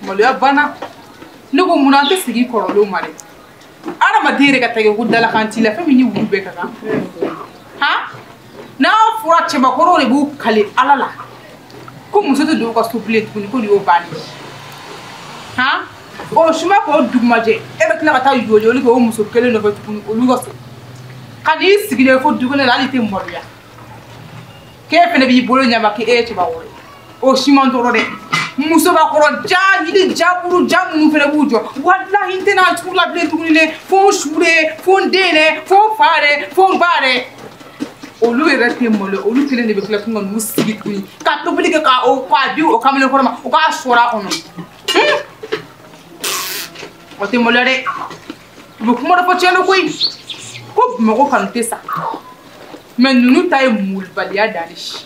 maloya banna ne ko mun an tɛ segin kɔrɔlenw ma dɛ adamaden yɛrɛ ka tɛgɛ ko dalakan t'i la fɛn min ni wulu bɛɛ ka kan han n'a fɔra cɛbakɔrɔw de b'u kale ala la ko muso tɛ don u ka so bilen tuguni ko nin y'o bannen han o suma k'o dugumajɛ e bɛ tila ka taa yoliyoli kɛ o muso kelen nɔfɛ tuguni olu ka so ka n'i sigilen fo dukɛnɛ la hali i tɛ maloya k'e fana b'i bolo ɲama k'e ye cɛbakɔrɔ ye o si ma n tɔɔrɔ dɛ musobakɔrɔ ja yiri jaburu ja minnu fɛnɛ b'u jɔ walahi n tɛna tugu la bilen tuguni dɛ fo n su dɛ fo n den dɛ fo n fa dɛ fo n ba dɛ olu yɛrɛ tɛ malo olu kelen de bɛ tila tun ka n'u sigi tuguni ka tobili kɛ k'a di o kamalenkɔrɔ ma o k'a sɔrɔ a kɔnɔ o tɛ maloya dɛ u bɛ kuma dɔ fɔ tiɲɛ don koyi ko bamakɔ kanu tɛ sa mɛ ninnu ta ye malobaliya dan de si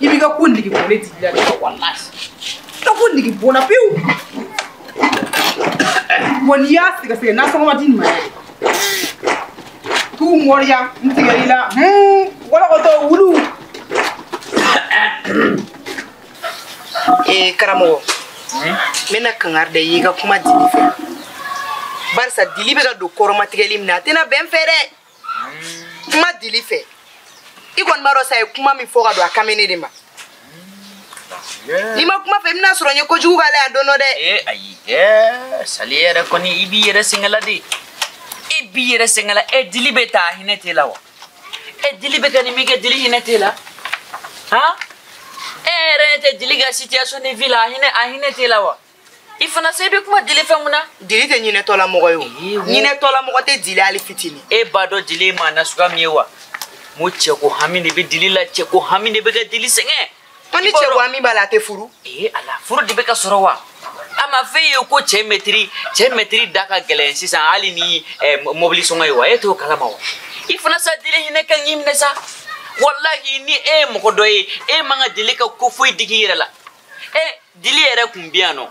i b'i ka ko nege bɔ ne tigi la dɛ walahi i ka ko nege bɔ n na pewu wa n'i y'a sɛgɛsɛgɛ nasɔngɔ ma di nin ma yɛrɛ k'u mɔriya n tigɛ i la wɔlɔkɔtɔ wulu ee karamɔgɔ n bɛna kangari da i y'i ka kuma dili fɛ barisa dili bɛ ka don kɔrɔmatigɛli min na a tɛna bɛn fɛ dɛ kuma dili fɛ i kɔni b'a dɔn sa ye kuma min fɔ ka don a kame ne de ma n'i ma kuma fɛ i bɛna sɔrɔ n ye kojugu k'a la yan don dɔ dɛ ee ayi ɛɛ sali yɛrɛ kɔni i b'i yɛrɛ sɛgɛla de e b'i yɛrɛ sɛgɛla e dili bɛ taa a hinɛ t'e la wa e dili bɛ kɛ nin min kɛ dili hinɛ t'e la han e yɛrɛ tɛ dili ka situation de vie la a hinɛ a hinɛ t'e la wa i fana sa i bɛ kuma dili fɛ mun na dili tɛ ɲinɛtɔla mɔgɔ ye o ɲinɛtɔla mɔgɔ tɛ dili hali fitini e b'a dɔn dili ye maa nasuguya min ye wa n ko cɛko hami de bɛ dili la cɛko hami de bɛ kɛ dili sɛgɛn ko ni cɛko hami b'a la a tɛ furu ee ala furu de bɛ ka sɔrɔ wa a ma f'e ye ko cɛ mɛtiri cɛ mɛtiri da ka gɛlɛn sisan hali ni eh, mɔbili sɔngɔ ye wa e t'o kalama wa i fana sa dili hinɛ ka n'i minɛ sa walahi ni e ye mɔgɔ dɔ ye e man ka dili ka ko foyi digi i yɛrɛ la e dili yɛrɛ kun bɛ yan nɔ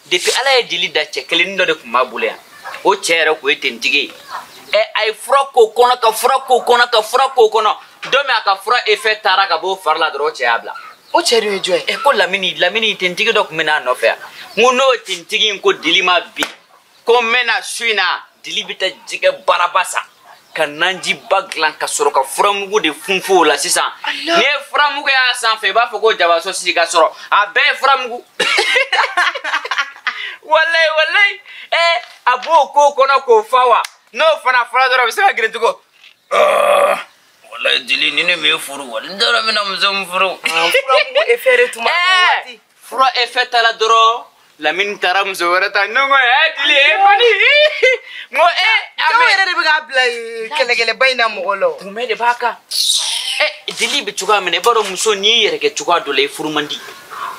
depuis ala ye dili da cɛ kelennin dɔ de kun b'a bolo yan o cɛ yɛrɛ kun ye tentigi ye ɛ a ye fura k'o kɔnɔ ka fura k'o kɔnɔ ka fura k'o kɔnɔ don min a ka fura effet taara ka b'o fari la dɔrɔn o cɛ y'a bila o cɛ dun ye jɔn ye ɛ ko lamini lamini tentigi dɔ kun bɛ n'a nɔfɛ yan n ko n'o tentigi in ko dili ma bin ko n bɛ na su in na dili bɛ taa jɛgɛ baraba san ka nanjiba dilan ka sɔrɔ ka furamugu de funfun o la sisan n'i ye furamugu y'a sanfɛ i b'a fɔ ko jaba sɔsi ka sɔrɔ a bɛɛ ye furamugu walayi walayi ɛ eh, a b'o ko kɔnɔ k'o fa wa n'o fana fɔra dɔrɔn a bɛ se ka girin tugun walayi dili ni ne m'e furu wali n t'a dɔn n bɛna muso min furu furamugu efɛ de tuma waati fura efɛ t'a la dɔrɔn lamini taara muso wɛrɛ ta ne ko ɛ dili e kɔni n ko e dɔw yɛrɛ de bɛ k'a bila kɛlɛkɛlɛba in na mɔgɔ la kunbɛ de b'a kan ɛ dili bɛ cogoya min na i b'a dɔn muso n'i y'i yɛrɛ kɛ cogoya dɔ la i furu man di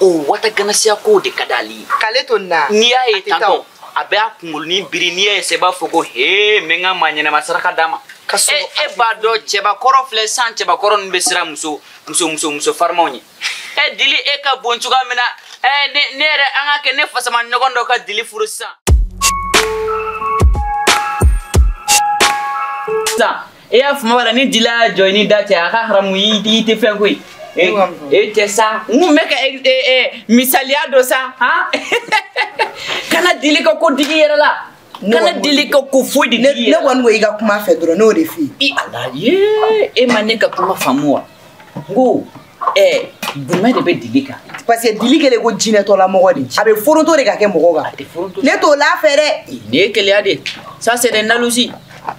o wata ganasiya kow de ka d'ale ye k'ale to nin na n'i y'a ye tantɔ a bɛ a kungolonin biri n'i y'a ye sɛ i b'a fɔ ko hee n bɛ n ka maa ɲɛnama saraka d'a ma e b'a dɔn cɛbakɔrɔ filɛ san cɛbakɔrɔ ninnu bɛ siran muso muso muso muso farimaw ɲɛ ɛ dili e ka bon cogoya min na ɛ ne ne yɛrɛ an ka kɛ ne fasaman ɲɔgɔn dɔ ka dili furu sisan sisan e y'a faamu wala ni dili y'a jɔ i ni da cɛ a ka haramu i i tɛ fɛn koyi e e tɛ sa n kun bɛ ka e- e- e, misaliya dɔ sa han kana dili ka ko digi i yɛrɛ la kana dili ka ko foyi digi i yɛrɛ ne kɔni ko i ka kuma fɛ dɔrɔn n b'o de f'i ye i ala ye e ma ne ka kuma faamu wa n ko ɛɛ jumɛn de bɛ dili kan parce que dili kɛlen ko jinɛtɔla mɔgɔ de a bɛ foronto de ka kɛ mɔgɔ kan ne t'o la fɛ dɛ nin ye keleya de ça c'est des jalousies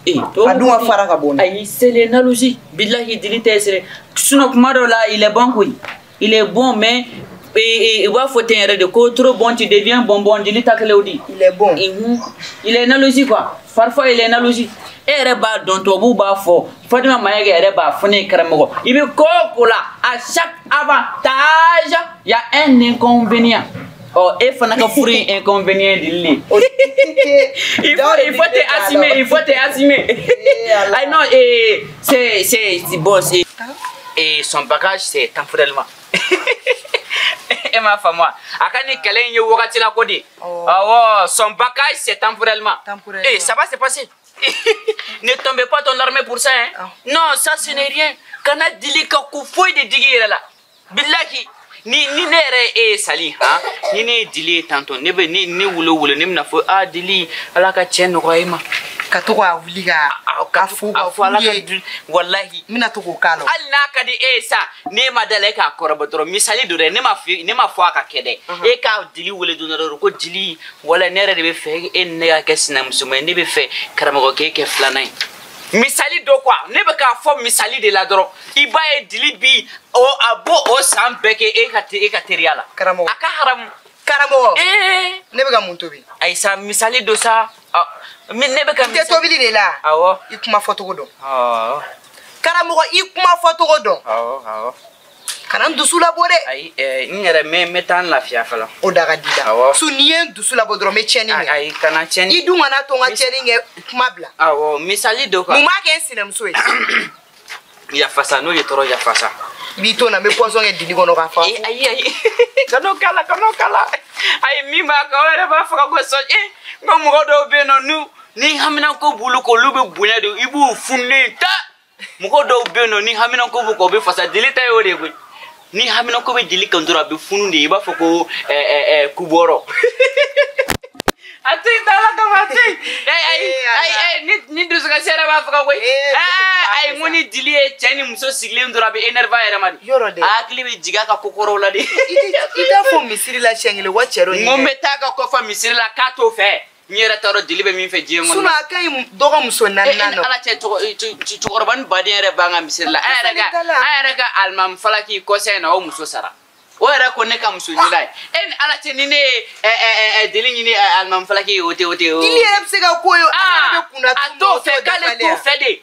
eh, a dun ka fara ka bɔ ayi c'est les jalousies bilahi dili tɛ sere sinon kuma dɔw la il est bon koyi il est bon mais u b'a fɔ ten yɛrɛ de ko trop bon tu deviens bonbon dili ta kɛlen o di il est bon il est jalousie quoi parfois il est jalousie e yɛrɛ b'a dɔn tubabuw b'a fɔ fatima mayiga yɛrɛ b'a fɔ ne ye karamɔgɔ i bɛ ko o ko la à chaque avantage il y a un inconvénient Oh, e fana ka furu in inconvénient dili oh, il faut il faut te assumer il faut te assumer ah non et c'est c'est bon c'est ah. et son bagage c'est temporairement e m'a faamu wa a ka nin kɛlɛ in ye wagati la ko di awɔ son bagage c'est temporairement et ça va se passer ne tombez pas ton larme pour ça hein ah. non ça ce n'est rien kana dili ka ko foyi de digi i yɛrɛ la bilahi ni ni ne yɛrɛ ye e ye sali han ni ne ye dili ye tantɔ ne bɛ ne ne wolo wolo ne bɛna fɔ a dili ala ka cɛ nɔgɔya e ma ka to k'a wuli ka ka fo ka fo ala ka dun walahi n bɛna to k'o k'a la hali n'a ka di e ye sa ne ma d'a la e k'a kɔrɔbɔ dɔrɔn misali don dɛ ne ma fi ne ma fɔ a ka kɛ dɛ e ka dili wele don dɔ dɔrɔn ko dili wala ne yɛrɛ de b'a fɛ e ni ne ka kɛ sinamusoma ye ne b'a fɛ karamɔgɔkɛ kɛ filanan ye misali don quoi ne bɛ k'a fɔ misali de la dɔrɔn i b'a ye dili bi o a b'o o san bɛɛ kɛ e ka e ka teriya la karamɔgɔ a ka haramu karamɔgɔ ee ne bɛ ka mun tobi ayi sa misali don sa ne bɛ ka te tobili de la awɔ i kuma fɔcogo dɔn karamɔgɔ i kuma fɔcogo dɔn awɔ awɔ kana n dusu labɔ dɛ ayi eh, n yɛrɛ mɛ n bɛ taa n lafiya fɔlɔ o da ka di la awɔ su n'i ye n dusu labɔ dɔrɔn n bɛ tiɲɛni kɛ ayi kana tiɲɛni i dun kana to n ka tiɲɛni kɛ kuma bila awɔ misali dɔ kan mun b'a kɛ n sinamuso ye yafasa n'o ye tɔɔrɔ yafasa b'i to na n bɛ pɔsɔn kɛ dili kɔnɔ k'a fa eh, ayi ayi kan'o k'a la kan'o k'a la ayi min b'a kan o yɛrɛ b'a faga ko sɔn e n ka mɔgɔ dɔw bɛ yen nɔ n'u ni haminako b'olu kan olu bɛ bonya de i b'u fununen ta mɔgɔ dɔw bɛ yen nɔ ni haminako b'u kan u bɛ fasa dili ta y'o de ye koyi ni haminako bɛ dili kan dɔrɔn a bɛ funu de i b'a fɔ ko kubɔrɔ a to yen ala kama a to yen ni dusukasi yɛrɛ b'a faga koyi a ye n ko ni dili ye cɛ ni muso sigilen dɔrɔn a bɛ énervé a yɛrɛ ma de yɔrɔ de a hakili bɛ jigin a ka ko kɔrɔw la de i t'a fɔ misiri la siɲɛ kelen wa cɛ dɔ n ko n bɛ taa a ka ko fɔ misiri la k'a t'o fɛ n yɛrɛ t'a dɔn dili bɛ min fɛ diɲɛ kɔnɔ a ka ɲi dɔgɔ muso naaninan dɔ ala cɛ cɛkɔrɔba ni baden yɛrɛ b'an ka misiri la an yɛrɛ ka an yɛrɛ ka alimami falaki kɔsa in na o muso sara o yɛrɛ ko ne ka muso ɲin'a ye e ni ala cɛ ni ne ye dili ɲini alimami falaki ye o tɛ o tɛ o dili yɛrɛ bɛ se ka ko ye a t'o fɛ k'ale t'o fɛ de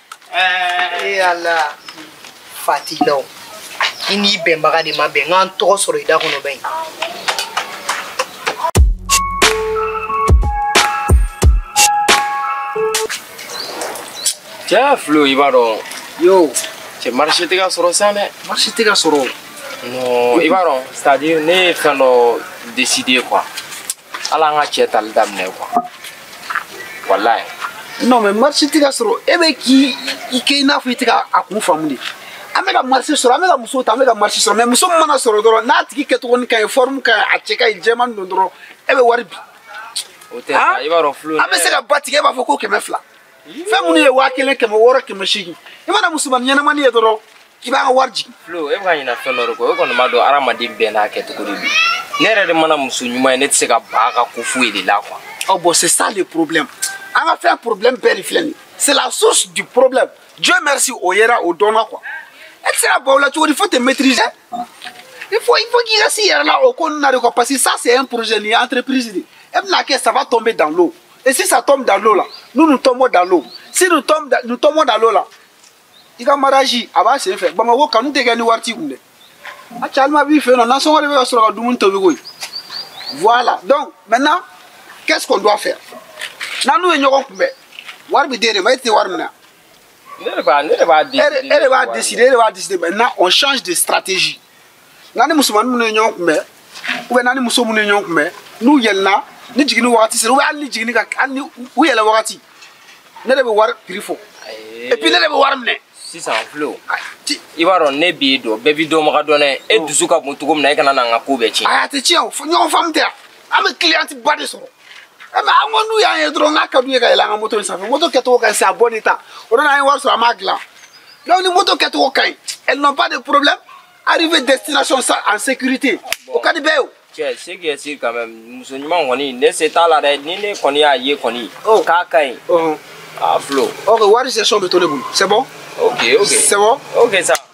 Eh, eh ala fatilaw i n'i bɛnbaga de ma bɛn n kana n tɔgɔ sɔrɔ i da kɔnɔ bilen cɛ filo i b'a dɔn yo cɛ marché tɛ ka sɔrɔ sa dɛ marché tɛ ka sɔrɔ non i b'a dɔn c'est à dire ne ye fɛn dɔ décider quoi ala an ka cɛ tali daminɛ quoi voilà non mais marché tɛ ka sɔrɔ e bɛ k'i i kɛ i n'a fɔ i tɛ ka a kun faamu de an bɛ ka marché sɔrɔ an bɛ ka muso ta an bɛ ka marché sɔrɔ mais muso min mana sɔrɔ dɔrɔn n'a tigi kɛcogonin ka ɲi forme ka ɲi a cɛ ka ɲi jɛman don dɔrɔn e bɛ wari bin o tɛ sa i b'a dɔn filo an bɛ se ka ba tigɛ e b'a fɔ ko kɛmɛ fila fɛn minnu ye waa kelen kɛmɛ wɔɔrɔ kɛmɛ seegin i mana musomanin ɲɛnamani ye dɔrɔn k'i b'a ka wari jigin filo e bɛ ka ɲina fɛn dɔ de kɔ e kɔni b'a dɔn hadamaden bɛɛ n'a kɛcogo de don ne yɛrɛ de mana muso ɲuman ye ne tɛ se ka ban a ka ko foyi de la quoi ɔ bɔn c'est ça le problème an ka fɛn problème bɛɛ de filɛ nin c'est la source du problème dieu merci o yera o dɔnna quoi e tɛ se ka ban u la cogo di faut te maîtriser il faut il faut k'i ka s'i yɛrɛ la o ko ninnu na de quoi parce que ça c'est un projet nin ye entreprise de e bɛna kɛ ça va tomber dans l'eau et si ça tombe dans l'eau là nous nous tombons dans l'eau si nous tombons dans l'eau là i ka mariage a b'a sen fɛ bamako kanu tɛ kɛ ni wari t'i kun dɛ a cɛ alima b'i fɛ yen non nasɔngɔ de bɛ ka sɔrɔ ka dumuni tobi koyi voilà donc maintenant qu'est ce qu'on doit faire n'an n'u ye ɲɔgɔn kunbɛn wari bɛ d'e de ma e de bɛ wari minɛ e de b'a décider e de b'a décider maintenant on change de stratégie n'an ni musomanin minnu ye ɲɔgɔn kunbɛn ou bien n'an ni muso minnu ye ɲɔgɔn kunbɛn n'u yɛlɛnna ni jiginni wagati sera ou bien hali ni jiginni ka hali ni u yɛlɛn wagati ne de bɛ wari prix fɔ et puis ne de bɛ wari minɛ sisan flo i b'a dɔn ne b'i dɔn bɛɛ b'i dɔnbaga dɔn dɛ e dusu ka bon cogo min na e kana na n ka ko bɛɛ tiɲɛ a tɛ tiɲɛ o ɲɔgɔn faamu tɛ yan an bɛ client ba de sɔrɔ mais an ko n'u y'an ye dɔrɔn n'a ka d'u ye ka yɛlɛn an ka moto in sanfɛ moto kɛcogo ka ɲi sa bon état o nana an ye wari sɔrɔ an b'a dilan donc ni moto kɛcogo ka ɲi elles n'ont pas de problème arriver destination en sécurité o ka di bɛɛ ye o cɛ ce qui est sûr quand même muso ɲuman kɔni ne se t'a la dɛ ni ne kɔni y'a ye kɔni k'a ka ɲi a flo ok wari session bɛ to ne bolo c'est bon ok ok c'est bon ok ça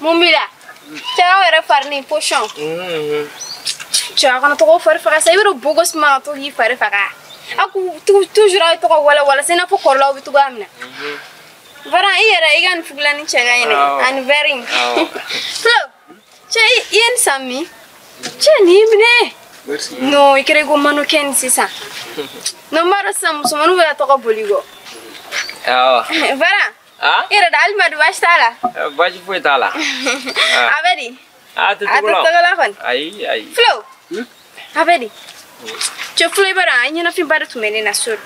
mun b'i la cɛw yɛrɛ fari ni posɔn cɛw kana tɔgɔ fari faga sa i bɛ don beau gosse ma ka to k'i fari faga a k'u tu- toujours aw ye tɔgɔ walawala se i n'a fɔ kɔrɔlaw bɛ cogoya min na Varan i yɛrɛ i ka nin fugulanin cɛ ka ɲi dɛ Awɔ. ani verre in Awɔ. flo cɛ i i ye nin san min cɛ nin y'i minɛ Merci. non i kɛra i ko mannequin sisan non n b'a dɔn sisan musomaninw bɛ ka tɔgɔ boli kɔ Awɔ. Varan ah i yɛrɛ da alima dun baasi t'a la Eh, baasi foyi t'a la a bɛ di a tɛ a tɛ togo la tɔgɔla kɔni ayi ayi flo a bɛ di cɛ flo Varan i ɲɛnafinba de tun bɛ ne na so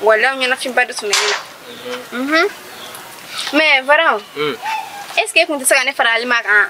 voilà aw ɲɛnafinba de tun bɛ ne na Mhm. mais Varan Mm. est ce que e tun tɛ se ka ne fara alima kan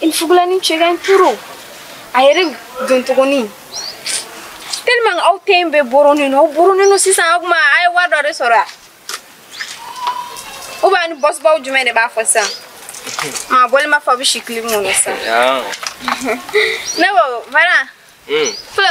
i ni fugulanin cɛ ka ɲi trop a yɛrɛ dontogonin tellement aw tun bɛ boronin non aw boronin non sisan aw kuma a ye wari dɔ de sɔrɔ a u b'a ni boss baw jumɛn de b'a fɔ sisan ma bɔli ma fɔ a bɛ si kili mun na sisan ne ko Varan flo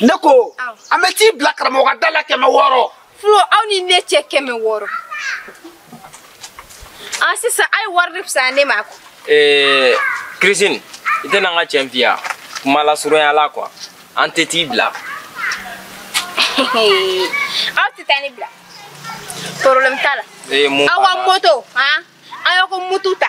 ne ko an bɛ t'i bila karamɔgɔ da la kɛmɛ wɔɔrɔ flo aw ni ne cɛ kɛmɛ wɔɔrɔ ah sisan aw ye wari de fisaya ne ma ko ee christine i tɛna an ka cɛn fiya kuma lasurunya la quoi an tɛ t'i bila aw tɛ taa ne bila problème t'a la ee mun aw ka banna? moto han aw y'aw ka moto ta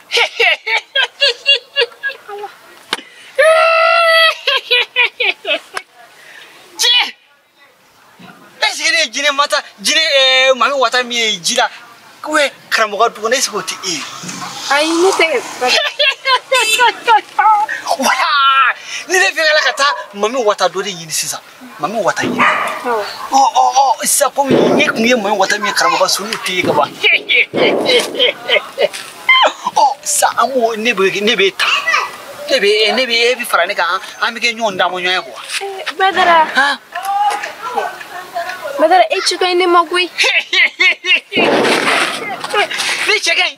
Jinɛ! Est-ce que ne ye jinɛ mata jinɛ ɛɛ mami wata min ye ji la ou bien karamɔgɔ dugu ne est-ce que o tɛ e ye? Ayi ne tɛ Voilà! Ni ne fɛngɛla ka taa mami wata dɔ de ɲini sisan. mami wata ye ɔ ɔ ɔ sisan komi e tun ye mami wata min ye karamɔgɔ so n'o tɛ ye ka ban ɔ sisan an b'o ne bɛ ne bɛ ta ne bɛ ne bɛ e bɛ fara ne kan an bɛ kɛ ɲɔgɔn damu ɲɔgɔn ye quoi. badara badara e cɛ ka ɲi ne ma koyi. ne cɛ ka ɲi.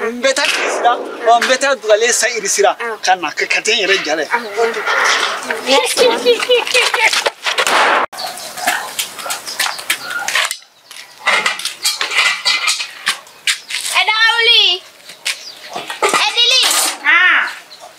n bɛ taa kiri sira ɔ n bɛ taa dugalen san iri sira ka na ka ka tɛ n yɛrɛ jalɛ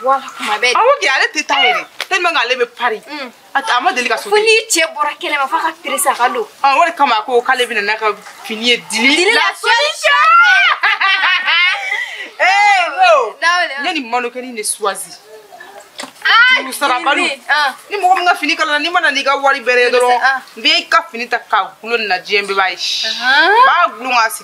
bɔra kuma bɛɛ awo kɛ ale tɛ taa yɛrɛ tellement k'ale bɛ pari a ma deli ka so fo n'i cɛ bɔra kɛnɛ ma f'a ka perese a ka don o de kama a ko k'ale bɛna n'a ka fini ye dili dili la solution ee o n ye nin mannequin de choisi juru sarabaliw ni mɔgɔ min ka fini kalala n'i ma na n'i ka wari bɛrɛ ye dɔrɔn n bɛ i ka fini ta k'a gulon nin na diɲɛ bɛɛ b'a ye b'a gulon k'a sigi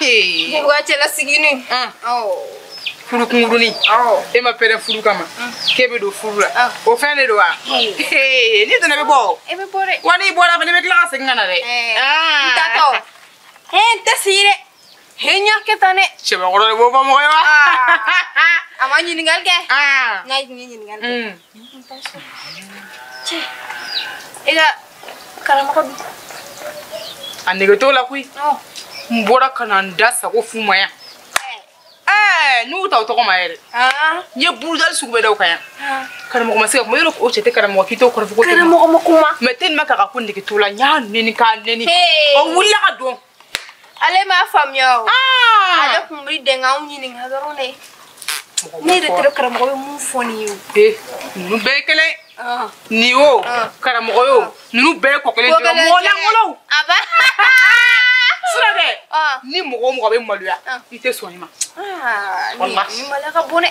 Ee, Wa cɛla sigini. ah, Awɔ. furu kunkurunin Awɔ. e ma pɛrɛ furu kama k'e bɛ don furu la Ah. o fɛn de don wa Ee. Ee, n'i donna i bɛ bɔ o. E bɛ bɔ dɛ. wa n'i bɔra fana i bɛ tila ka segin ka na dɛ Ee, Ah. N taatɔ. He n tɛ sigi dɛ. He n y'a kɛ tan dɛ. cɛbakɔrɔ de b'o fɔ mɔgɔ ye wa A ma ɲininkali kɛ. Ah. N ka ɲininkali kɛ. Mm. Cɛ e ka karamɔgɔ dun a nege t'o la koyi n bɔra ka na n da sago f'u ma yan n'u ta o tɔgɔ ma yɛrɛ n ye burudali sugu bɛɛ da u kan yan karamɔgɔ ma se ka kuma yɔrɔ o cɛ tɛ karamɔgɔ k'i t'o kɔrɔfɔ ko karamɔgɔ ma kuma mais tellement k'a ka ko nege t'o la n y'a neni k'a neni o wulila ka don ale m'a faamuya o ale tun bɛ dɛn k'anw ɲininka dɔrɔn de ne yɛrɛ tɛrɛ karamɔgɔ bɛ mun fɔ nin ye o ee ninnu bɛɛ ye kelen nin o karamɔgɔ ye o ninnu bɛɛ ye ko kelen dɔrɔn mɔgɔ lankolonw sira dɛ ni mɔgɔ o mɔgɔ bɛ maloya i tɛ sɔn i ma walahi nin maloya ka bon dɛ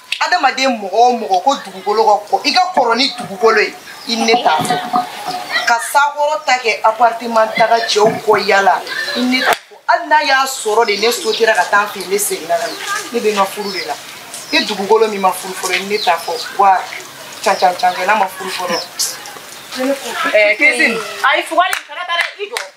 adamaden mɔgɔ o mɔgɔ ko dugukolo ka kɔ i ka kɔrɔ ni dugukolo ye i ne t'a fɔ ka sac kɔrɔta kɛ appartement taga cɛw kɔ yaala i ne t'a fɔ hali n'a y'a sɔrɔ de ne sotera ka taa n fɛ ne seginna ka na ne bɛ n ka furu de la i dugukolo min ma furu fɔlɔ i ne t'a fɔ wa can can can kɛ n'a ma furu fɔlɔ. ɛɛ Christine ayi fugari kana taa dɛ i jɔ.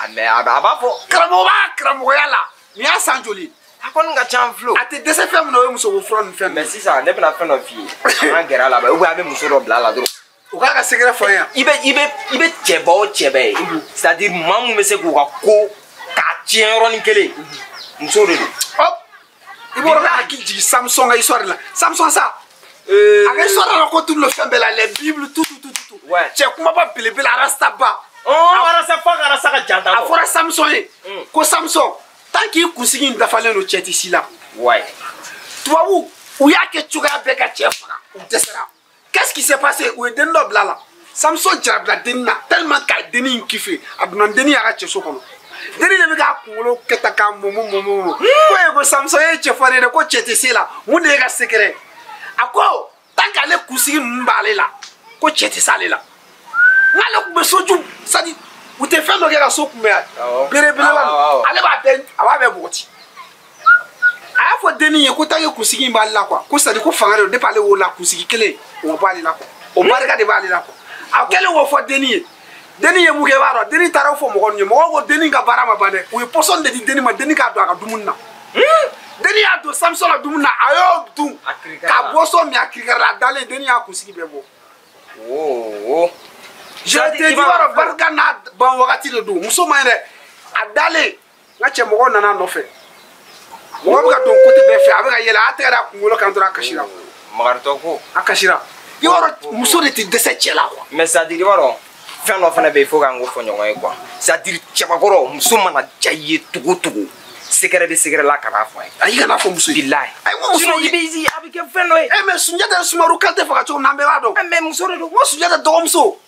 a mais a b'a fɔ karamɔgɔ b'a karamɔgɔya la nin y'a san joli a kɔni ka ca filo a tɛ dɛsɛ fɛn min na o ye musoko fura ni fɛn mais sisan ne bɛna fɛn dɔ f'i ye an ka gɛrɛ a la ou bien a bɛ muso dɔ bila a la dɔrɔn o k'a ka secret fɔ n ye i bɛ i bɛ i bɛ cɛba o cɛba ye c'est à dire maa min bɛ se k'u ka ko k'a tiɲɛ yɔrɔnin kelen muso de don i b'o dɔn k'i hakili jigin samson ka histoire la samson sa a ka histoire racontelen lo fɛn bɛɛ la les bible tout tout tout tout cɛ kunbaba belebele arasta ba arasta fo ka arasta ka janta a fɔra samson ye ko samson tant k'i kunsigi in dafalen don cɛ tɛ se i la tubabu u y'a kɛ cogoya bɛɛ ka cɛ faga u dɛsɛra qu'est-ce qui s'est passé u ye denni dɔ bila la samson jarabila denni na tellement k'a denni in kiffé a donna denni y'a ka cɛso kɔnɔ denni de bɛ k'a kunkolo kɛ tan k'a mɔmɔ mɔmɔ mɔmɔ ko ye ko samson ye cɛfarin de ko cɛ tɛ se i la mun de y'i ka secret a ko tant k'ale kunsigi ninnu b'ale la ko cɛ tɛ s'ale la n'ale tun bɛ soju c'est-à-dire u tɛ fɛn dɔ kɛ ka so kunbɛn belebeleba ale b'a bɛɛ a b'a bɛɛ bɔgɔti a y'a fɔ dennin ye ko tant que kunsigi in b'ale la quoi ko c'est-à-dire ko fanga de don depuis ale wolola kunsigi kelen o ma bɔ ale la quoi o barika de b'ale la quoi a kɛlen k'o fɔ dennin ye dennin ye mun kɛ i b'a dɔn dennin taara o fɔ mɔgɔ ninnu ye mɔgɔw ko dennin ka baara ma ban dɛ u ye pɔsɔni de di dennin ma dennin k'a don a ka dumuni na dennin y'a don samson la dumuni na a y'o dun ka boisson min a kirikara a dalen dennin y'a kunsigi bɛɛ bɔ wo je te dis i b'a dɔn barika n'a ban wagati de don muso man ɲi dɛ a dalen n ka cɛ mɔgɔw nana nɔfɛ mɔgɔ bɛ ka don côté bɛɛ fɛ a bɛ ka yɛlɛ a tɛgɛ da kunkolo kan dɔrɔn a kasira makaritɔ ko a kasira i b'a dɔn muso de tɛ dɛsɛ cɛ la quoi mais c'est-à-dire i b'a dɔn fɛn dɔ fana bɛ yen fo k'an k'o fɔ ɲɔgɔn ye quoi c'est-à-dire cɛbakɔrɔ muso mana diya i ye cogo cogo secret de secret la kana fɔ a ye ayi kana fɔ muso ye bilayi ayi ko muso i bɛ a bɛ kɛ fɛn dɔ ye ɛ mais sunjata sumaru kante faga cogo min na an bɛɛ b'a dɔn mais muso de don ko sunjata dɔgɔmuso